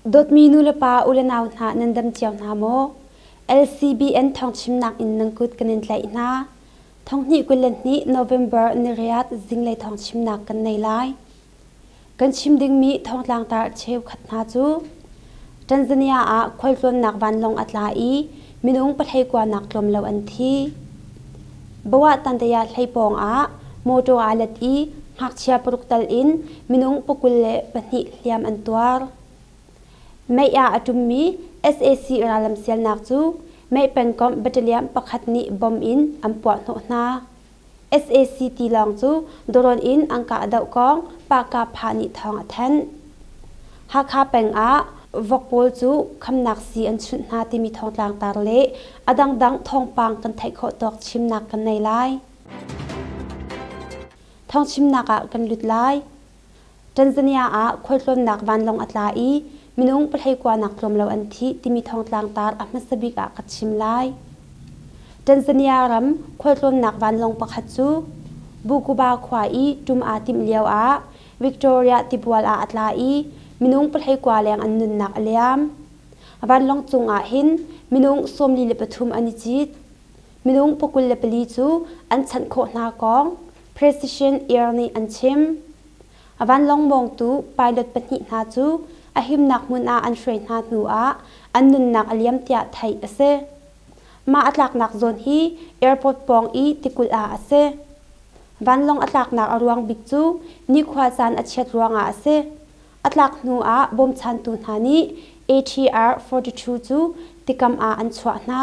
Dawtmi nulepa u le nau hna nan dam cio hna maw? LCBN thawngchimnak in nan kut kan in tlaih hna. Thonghnih kul le hnih November ni riat zinglei thawngchimnak kan nei lai. Kan chim dingmi thongtlangtar cheukhat hna cu Tanzania ah khualtlawnnak vanlawng a tla i minung pahlei kuanak tlawm lo an thi. Bawah Tandaya hlei pawng ah motor aa let i ngakchia paruk tal in minung pakul le pahnih hliam an tuar. Mei ah a ṭummi sac rallam sialnak cu mei pengkomh battalion pakhat nih bom in an puahhnawh hna. sac tilawng cu drone in an kah doh kong pahka pha nih thawng a thanh hakha peng ah vok pawl cu khamnak sii an chunh hna timi thawngtlang tar le a dangdang thawngpang kan theih khawh tawk chimnak kan nei lai thawngchimnak ah kan lut lai Tanzania ah khualtlawnnak vanlawng a tla i minung pahhlei kuanak tlawm lo an thih timi thawngtlang tar a hmasa bik ah ka chim lai. Tanzania ram khualtlawnnak vanlawng pakhat cu Bukuba khua i ṭum aa timh lio ah Victoria tibual ah a tla i minung pahhlei kua leng an nunnak a liam. Vanlawng cung ah hin minung sawmli le pathum an i cit. Minung pakul le pali cu an chanh khawh hna kong, President Air nih an chim. A vanlawng mawngtu pilot pahnih hna cu a himnak hmun ah an hruai hna hnu ah an nunnak a liam tiah theih a si. Mah a tlaknak zawn hi airport pawng i tikulh ah a si. Vanlawng a tlaknak a ruang bik cu nikhua caan a chiat ruangah a si. A tlak hnu ah bawmchantu hna nih ATR 42 cu tikam ah an chuah hna.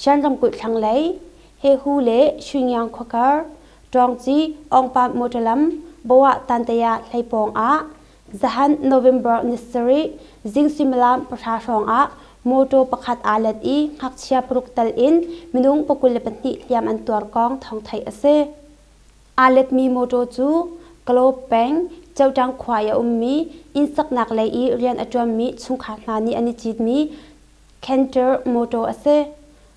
Shan ramkulh thlanglei Hehu le Xingyang khuakar Ṭawngci Awngpam motor lam Bawah Tantaya hlei pawng ah zahan November ni sarih zing suimilam pahra hrawngah motor pakhat aa let i ngakchia paruk tal in minung pakul le pahnih hliam an tuar kong thawng theih a si. Aa letmi motor cu Kalaw peng Choṭang khua i a ummi inn saknak lei i rian a ṭuanmi chungkhar hna nih an i citmi canter mawṭaw a si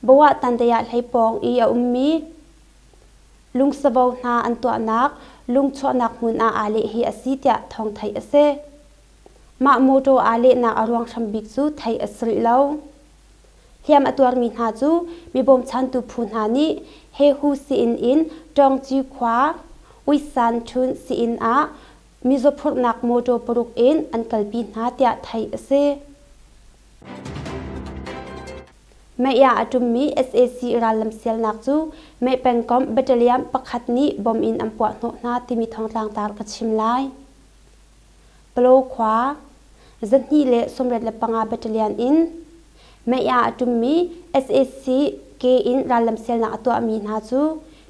bawiah tantei ah hleipawng i a ummi lungsavo hna an tuahnak lung chuahnak hmun ah aa leh hi a si tiah thawng theih a si mah mawṭaw aa lehnak a ruang hram bik cu theih a sulh lo hliam a tuarmi hna cu mibawmchantu phu hna nih hehu sii-inn in ṭawngci khua uisan ṭhun sii-inn ah mizaw phurhnak mawṭaw paruk in an kalpi hna tiah theih a si Meiah a ṭummi sac rallam sialnak cu mei pengkomh battalion pakhat nih bom in an puahhnawh hna timi thongtlangtar ka chim lai. Palaw khua zahnih le sawmriat le panga battalion in meiah a ṭummi sac ke in rallam sialnak a tuahmi hna cu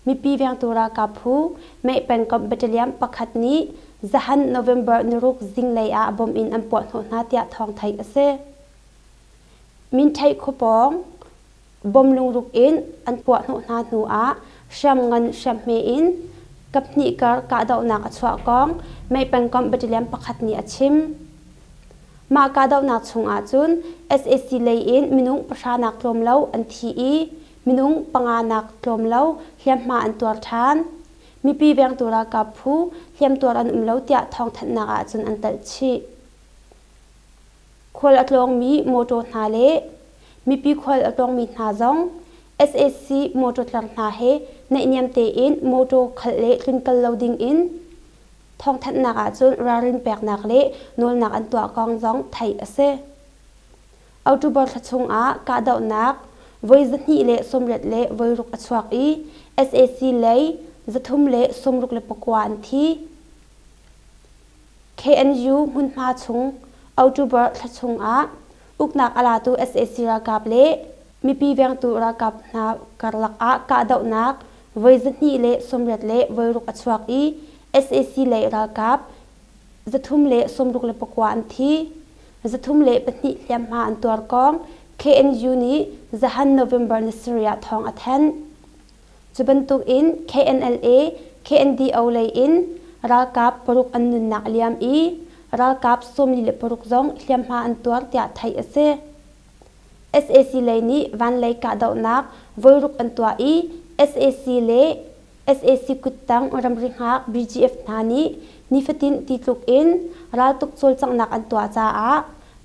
Mipi vengtu ralkap phu, Meh pengkomh battalion pakhat nih zahan November niruk zinglei ah bomb in an puahhnawh hna tiah thawng theih a si. Mintheih khupawng bomb lungruk in an puahhnawh hna hnu ah hriamngan hriamhme in kaphnih kar kahdohnak a chuah kong Meh pengkomh battalion pakhat nih a chim. Mah kahdohnak chung ahcun SAC lei in minung pahra nak tlawm lo an thi i Minung panga nak tlawm lo hliamhma an tuar ṭhan. Mipi vengtu ralkap phu hliamtuar an um lo tiah thawngthanhnak ahcun an telh chih. Khual a tlawngmi mawṭaw hna le mipi khual a tlawngmi hna zong sac mawṭaw tlang hna he naihniam tein mawṭaw khalh le tlun kal lo dingin thawngthanhnak ahcun ralrin peknak le nawlnak an tuah kong zong theih a si. October thla chungah kahdohnak voi zahnih le sawmriat le voiruk a chuak i sac lei zathum le sawmruk le pakua an thi. KNU hmunhma chung October thla chungah uknak a latu sac ralkap le mipi vengtu ralkap hna karlak ah kahdohnak voi zahnih le sawmriat le voiruk a chuak i sac lei ralkap Zathum le sawmruk le pakua an thi. Zathum le pahnih hliamhma an tuarkawng KNU nih zahan November ni sarih thawng a thanh. Cu bantuk in KNLA, KNDO lei in ralkap paruk an nunnak a liam i ralkap sawmli le paruk zong hliamhma an tuar tiah theih a si. sac lei nih vanlei kahdohnak voiruk an tuah i sac le sac kuttang ramri hngak bgf hna nih nifatin ti tluk in raltuk cawlcanghnak an tuah caah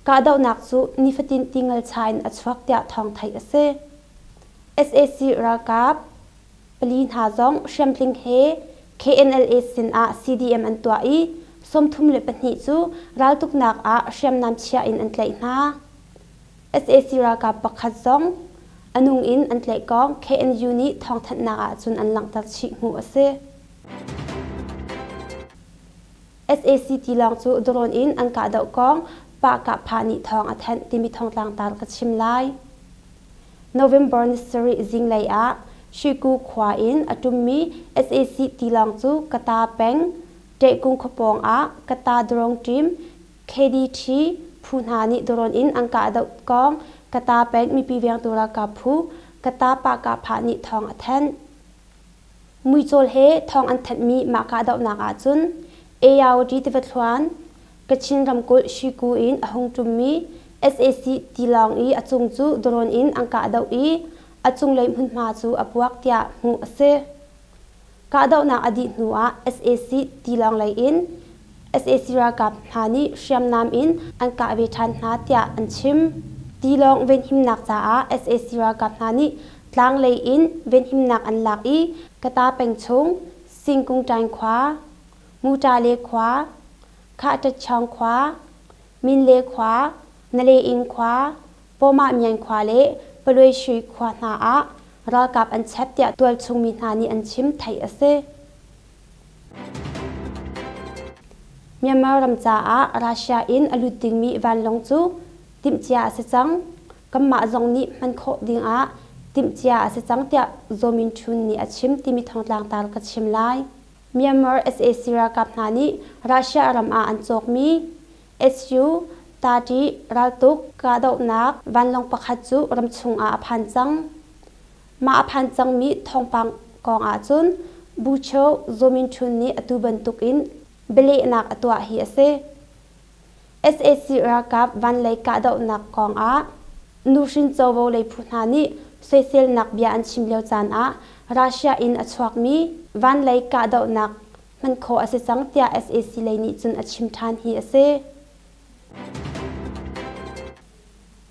kahdohnak cu nifatin ti ngalcha in a chuak tiah thawng theih a si sac ralkap pali hna zong hriamtling he KNLA sinah CDM an tuah i sawmthum le pahnih cu raltuknak ah hriamnam chiah in an tlaih hna. sac ralkap pakhat zong a nung in an tlaihkong KNU nih thawngthanhnak ah cun an langhter chih hnu a si. sac tilawng cu drone in an kahdoh kong Pah-Kah-Pha nih thawng a thanh timi thongtlangtar ka chim lai. November ni sarih zinglei ah Shiku khua in a ṭummi sac tilawng cu Kata peng Ṭehkung khua pawng ah Kata drone ṭim KDT phu hna nih drone in an kahdoh kong Kata peng mipi vengtu ralkap phu Kata Pah-Kah-Pha nih thawng a thanh. Muicawl he thawng an thanhmi mah kahdohnak ahcun Aoyage tiva thluan, Kachin ramkulh Shiku in a hung ṭummi sac tilawng i a cung cu drone in an kahdoh i a cunglei hmunhma cu a puak tiah hmuh a si. Kahdohnak a dih hnuah sac tilawng lei in sac ralkap hna nih hriamnam in an kah ve ṭhan hna tiah an chim. Tilawng venhimnak caah sac ralkap hna nih tlang lei in venhimnak an lak i Kata peng chung Singkungṭaing khua, Mutale khua, Khahṭatchaung khua, Minle khua, Naleing khua, Pawmahmyan khua le Pawluishui khua hna ah ralkap an chep tiah tualchung mi hna nih an chim theih a si. Myanmar ram caah Russia in a lut dingmi vanlawng cu timhcia a si cang. Kanmah zong nih hman khawh dingah timhcia a si cang tiah Zaw Min Htun nih a chim timi thongtlangtar ka chim lai. Myanmar sac ralkap hna nih Russia ram ah an cawkmi SU 30 raltuk kahdohnak vanlawng pakhat cu ramchung ah a phan cang. Mah a phan cangmi thawngpang kong ahcun Bucho Zominchun nih atu bantukin bialehnak a tuah hi a si. sac ralkap van lei kahdohnak kong ah nuhrin covo lei phu hna nih soiselnak bia an chim lio caan ah Russia in a chuakmi van lei kahdohnak hman khawh a si cang tiah sac lei nih cun a chim ṭhan hi a si.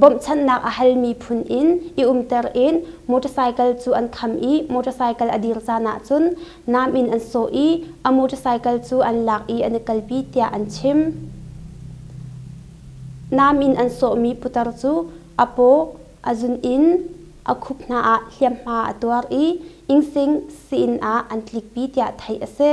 Bawmhchanhnak a hal mi phun in i umter in motorcycle cu an kham i motorcycle a dir caan ahcun nam in an sawh i a motorcycle cu an lak i an i kalpi tiah an chim. Nam in an sawhmi putar cu a paw, a zun in a khup hna ah hliamhma a tuar i ingsing sii-inn ah an tlikpi tiah theih a si.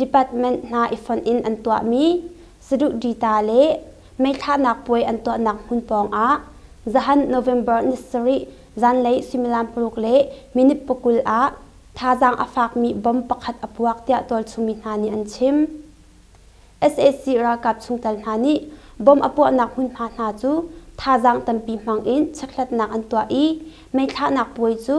Department hna i fonh in an tuahmi saduh dita le meithlahnak puai an tuahnak hmun pawngah zahan November ni sarih zanlei suimilam paruk le minit pakul ah thazaang a fakmi bomb pakhat a puak tiah tualchungmi hna nih an chim. sac ralkap chungtel hna nih bomb a puahnak hmunhma hna cu thazaang tampi hmang in checkhlatnak an tuah i meithlahnak puai cu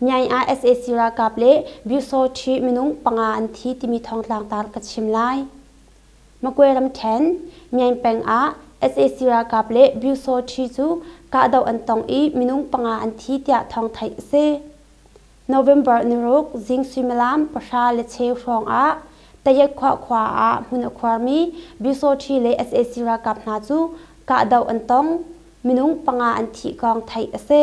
Nyai ah sac ralkap le Byusawṭhi minung panga an thi timi thawngtlangtar ka chim lai. Magwe ramṭhen Myaing peng ah sac ralkap le Byusawṭhi cu kahdoh an tong i minung panga an thi tiah thawng theih a si. November niruk zing suimilam pahra le cheu hrawng ah Tayetkhwa khua ah hmun a khuarmi Byusawṭhi le sac ralkap hna cu kahdoh an tong, minung panga an thih kong theih a si.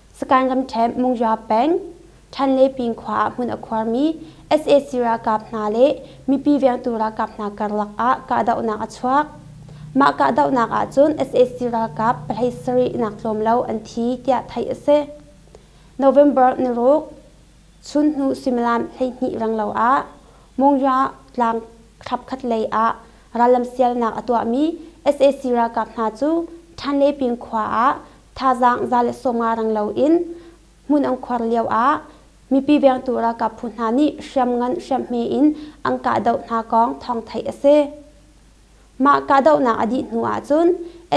Sagaing ramṭhemh Mungya peng Ṭhanlepin khua ah hmun a khuarmi sac ralkap hna le mipi vengtu ralkap hna karlak ah kahdohnak a chuak. Mah kahdohnak ahcun sac ralkap pahlei sarihnak tlawm lo an thi tiah theih a si. November naruk chunhnu suimilam hleihnih renglo ah Mungya tlang thlapkhat lei ah rallam sialnak a tuahmi sac ralkap hna cu Ṭhanlepin khua ah Thazaang za le sawm nga rang loin hmun an khuar lioah mipi vengtu ralkap phu hna nih hriamngan hriamhme in an kahdoh hna kong thawng theih a si. Mah kahdohnak a dih hnu ahcun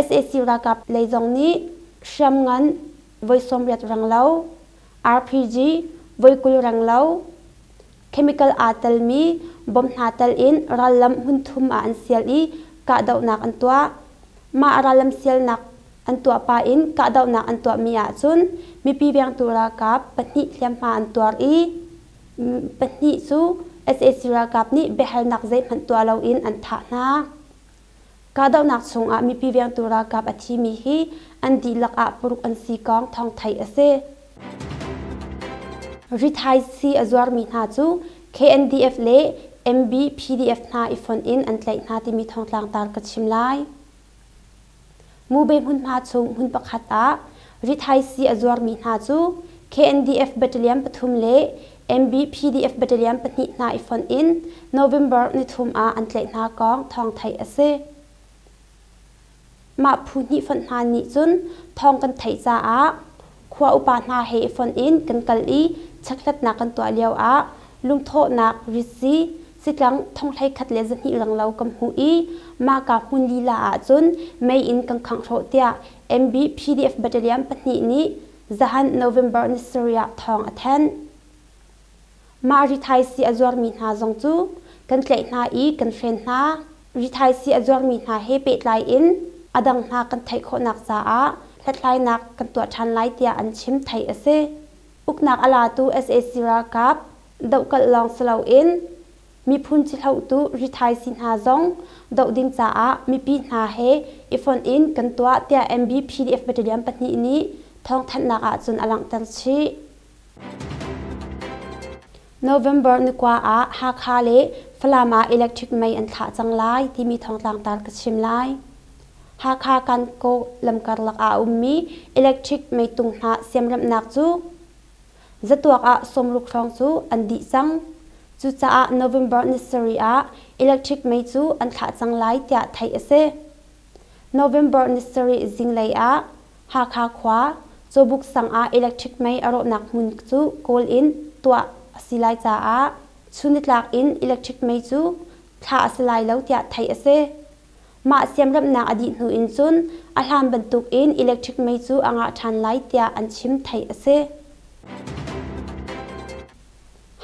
sac ralkap lei zong nih hriamngan voi sawmriat rang lo, RPG voi kul rang lo, Chemical aa telmi bom hna tel in rallam hmunthum ah an sial i kahdohnak an tuah. Mah rallam sialnak an tuah pah in kahdohnak an tuahmi ahcun mipi vengtu ralkap pahnih hliamhma an tuar i pahnih cu sac ralkap nih biahalnak zeihmanh tuah loin an thah hna. Kahdohnak chungah mipi vengtu ralkap a thimi hi an dihlak ah paruk an si kong thawng theih a si. Rithaisii a zuarmi hna cu KNDF le MBPDF hna i fonh in an tlaih hna timi thawngtlangtar ka chim lai. Ngube hmun hna chung hmun pakhat ah rithaisi a zuarmi hna cu KNDF battalion pathum le MBPDF battalion pahnih hna i fonh in November nithum ah an tlaih hna kong thawng theih a si. Mah phu hnih fonh hna nih cun thawng kan theih caah Khua upa hna he i fonh in kan kal i chekhlatnak kan tuah lioah lungthawhnak, ritzi, sitlang thonghlei khat le zahnih langlo kan hmuh i mahka hmun lila ahcun mei in kan khanghlawh tiah MB PDF Battalion pahnih nih zahan November ni sarih ah thawng a thanh. Mah rithaisi a zuarmi hna zong cu kan tlaih hna i kan hren hna. Rithaisi a zuarmi hna he pehtlai in a dang hna kan theih khawhnak caah hlathlainak kan tuah ṭhan lai tiah an chim. Theih a si. Uknak a latu sac ralkap dohkalh lawng si loin miphun cihlotu rithaisi hna zong doh ding caah mipi hna he i fonh in kan tuah tiah MBPDF Battalion pahnih nih thawngthanhnak ahcun a langhter chih. November ni kua ah Hakha le Falam ah electric mei an thlah cang lai timi thongtlangtar ka chim lai. Hakha Kankaw lamkarlak ah a ummi electric meitung hna siamremhnak cu zatuak ah sawmruk hrawng cu an dih cang. Cucaah November ni sarih ah electric mei cu an thlah cang lai tiah theih a si. November nisarih zinglei ah Hakha khua Cawbuk sang ah electric mei a rawhnak hmun cu kawl in tuah a si lai caah chun nitlak in electric mei cu thlah a si lai lo tiah theih a si. Mah siamremhnak a dih hnu in cun a hlan bantukin electric mei cu a ngah ṭhan lai tiah an chim theih a si.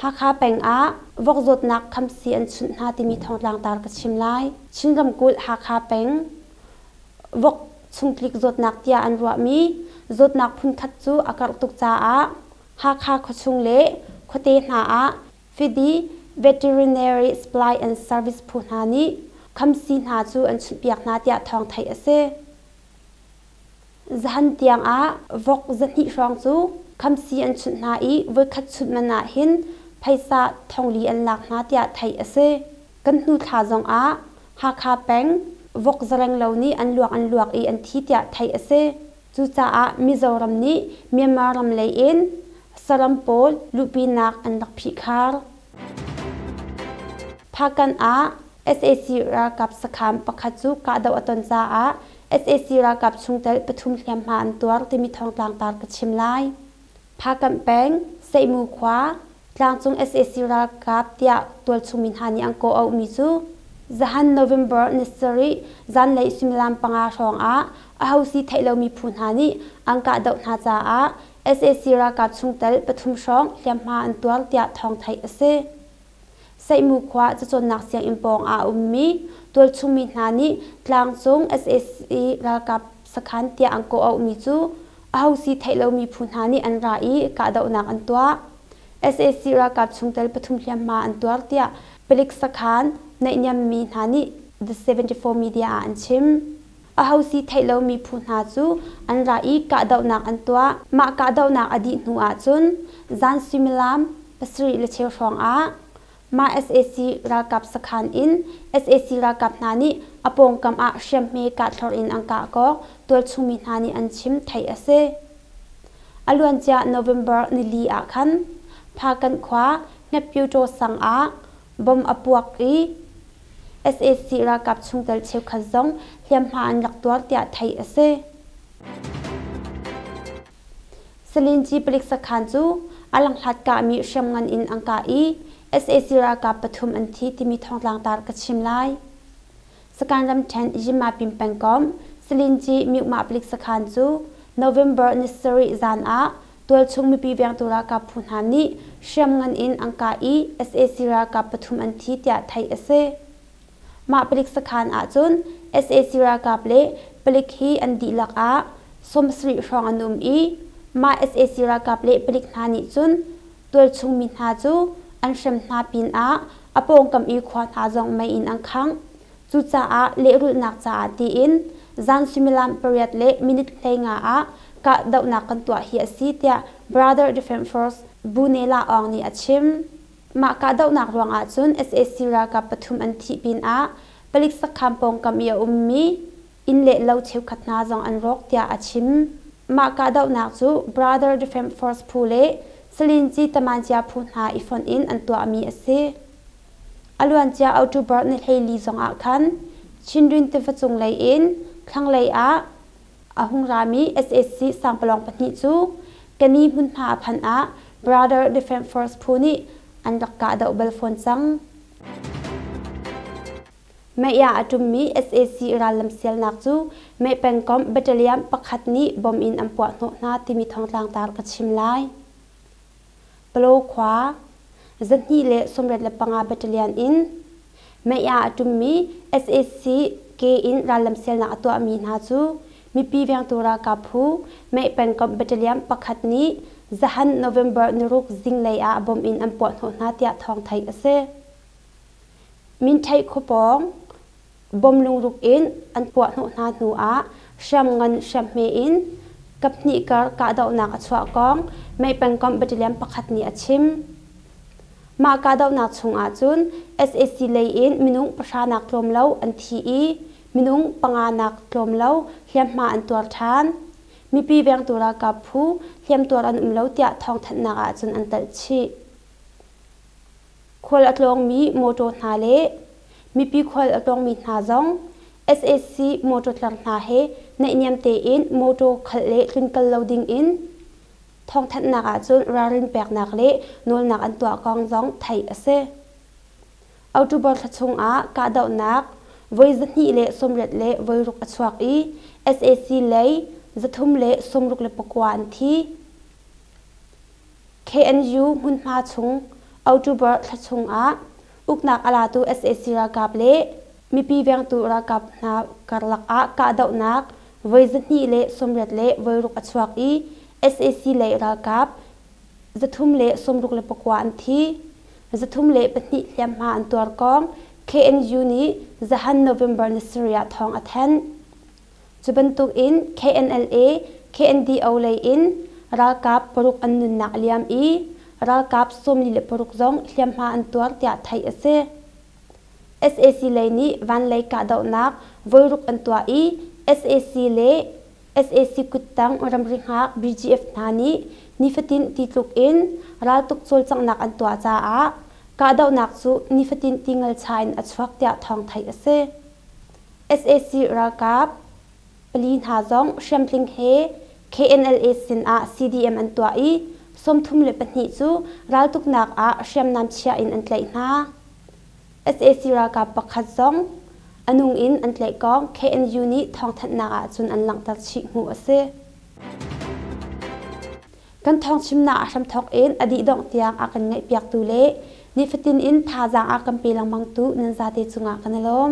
Hakha peng ah vok zawtnak khamsi an chunh hna timi thawngtlang tar ka chim lai. Chin ramkulh Hakha peng vok chung tlik zawtnak tiah an ruahmi zawtnak phunkhat cu a karh tuk caah Hakha khuachung le khuate hna ah fidi veterinary supply and service phu hna nih khamsi hna cu an chunh piak hna tiah thawng theih a si. Zan tiangah vok zahnih hrawng cu khamsi an chunh hna i voikhat chunh man ah hin phaisa thongli an lak hna tiah theih a si. Kan hnu thla zongah Hakha peng vok zarenglo nih an luak an luak i an thi tiah theih a si. Cucaah Mizoram nih Myanmar ram lei in saram pawl luhpinak an rak phihkhar. Phakan ah sac ralkap sakham pakhat cu kahdoh a ton caah sac ralkap chungtel pathum hliamhma an tuar timi thawngtlang tar ka chim lai. Phakamh peng, Seimu khua, tlangcung sac ralkap tiah tualchung mi hna nih an kaw auhmi cu zahan November ni sarih zanlei suimilam panga hrawngah aho si theih lomi phu hna nih an kahdoh hna caah sac ralkap chungtel pathum hrawng hliamhma an tuar tiah thawng theih a si. Seihmu khua cacawnnak sianginn pawng ah a ummi tualchungmi hna nih tlangcung sac ralkap sakhan tiah an kawh auhmi cu aho si theih lomi phu hna nih an ra i kahdohnak an tuah. sac ralkap chungtel pathum hliamhma an tuar tiah palik sakhan naihniammi hna nih The 74 Media ah an chim. Aho si theih lomi phu hna cu an ra i kahdohnak an tuah. Mah kahdohnak a dih hnu ahcun zan suimilam pasarih le cheu hrawngah mah sac ralkap sakhan in sac ralkap hna nih a pawngkam ah hriamhme kahthlor in an kah kawk, tualchungmi hna nih an chim, theih a si. A luancia November nili ah khan Phakan khua Hmepyaw Cawsang ah bomb a puak i sac ralkap chungtel cheukhat zong hliamhma an rak tuar tiah theih a si. Salinci palik sakhan cu a langhlat kahmi hriamngan in an kah i sac ralkap pathum an thi timi thawngtlang tar ka chim lai. Sakan ramṭhen Yima pin pengkomh Salinci Myukma palik sakhan cu November ni sarih zan ah Tualchung mipi vengtu ralkap phu hna nih hriamngan in an kah i sac ralkap pathum an thi tiah theih a si. Mah palik sakhan ahcun sac ralkap le palik hi an dihlak ah sawmsarih hrawng an um i mah sac ralkap le palik hna nih cun tualchung mi hna cu an hrem hna pinah a pawngkam i khua hna zong mei in an khangh. Cucaah lehrulhnak caah tiin zan suimilam pariat le minute hlei nga ah kahdohnak kan tuah hi a si tiah Brother Defense Force Bu-Nela Aung nih a chim. Mah kahdohnak ruangah cun sac ralkap pathum an thih pinah palik sakhaan pawngkam i a ummi inn le lo cheukhat hna zong an rawk tiah a chim. Mah kahdohnak cu Brother Defense Force phu le Salinci Tamancia phu hna i fonh in an tuahmi a si. a luancia october ni hleili zongah khan chinrin tiva cunglei in thlanglei ah a hung rami sac sangpalawng pahnih cu kani hmunhma a phanh ah brother defense force phu nih an rak kahdoh bal fawn cang meiah a ṭummi sac rallam sialnak cu mei pengkomh battalion pakhat nih bom in an puahhnawh hna timi thongtlangtar ka chim lai Palo khua, zarhhnih le sawmriat le panga battalion in Maya a ṭummi sac ke in rallam sialnak a tuahmi hna cu mipi vengtu ralkap phu Meh pengkomh battalion pakhat nih zahan November niruk zinglei ah bomb in an puahhnawh hna tiah thawng theih a si. Minthai khuapawng bawm lungruk in an puahhnawh hna hnuah hriamngan hriamhme in kaphnih kar kahdohnak a chuah kong mei pengkomh batalion pakhat nih a chim. Mah kahdohnak chungah cun sac lei in minung pahranak tlawm lo an thi i minung panganak tlawm lo hliamhma an tuar ṭhan. Mipi vengtu ralkap phu hliamtuar an um lo tiah thawngthanhnak ah cun an telh chih. khual a tlawngmi mawṭaw hna le mipi khual a tlawngmi hna zong sac mawṭaw tlang hna he naihniam tein mawṭaw khalh le tlun kal lo dingin thawngthanhnak ahcun ralrin peknak le nawlnak an tuah kong zong theih a si. October thla chungah kahdohnak voi zahnih le sawmriat le voiruk a chuak i sac lei zathum le sawmruk le pakua an thi. KNU hmunhma chung October thla chung ah uknak a latu sac ralkap le mipi vengtu ralkap hna karlak ah kahdohnak voi zahnih le sawmriat le voiruk a chuak i sac lei ralkap zathum le sawmruk le pakua an thi. Zathum le pahnih hliamhma an tuar kong KNU nih zahan November ni sarih ah thawng a thanh. Cu bantukin KNLA, KNDO lei in ralkap paruk an nunnak a liam i ralkap sawmli le paruk zong hliamhma an tuar tiah theih a si. SAC lei nih vanlei kahdohnak voiruk an tuah i sac le sac kuttang ramri hngak BGF hna nih nifatin ti tluk in raltuk cawlcanghnak an tuah caah kahdohnak cu nifatin ti ngal cha in a chuak tiah thawng theih a si. sac ralkap pali hna zong hriamtling he knla sinah cdm an tuah i sawmthum le pahnih cu raltuknak ah hriamnam chia in an tlaih hna sac ralkap pakhat zong a nung in an tlaihkong knu nih thawngthanhnak ahcun an langhter chih hmuh a si Kan thawngchimnak a hram thawk in a dih dongh tiang a kan ngaihpiaktu le nifatin in thazaang a kan pe lengmangtu nan zate cungah ka na lawm.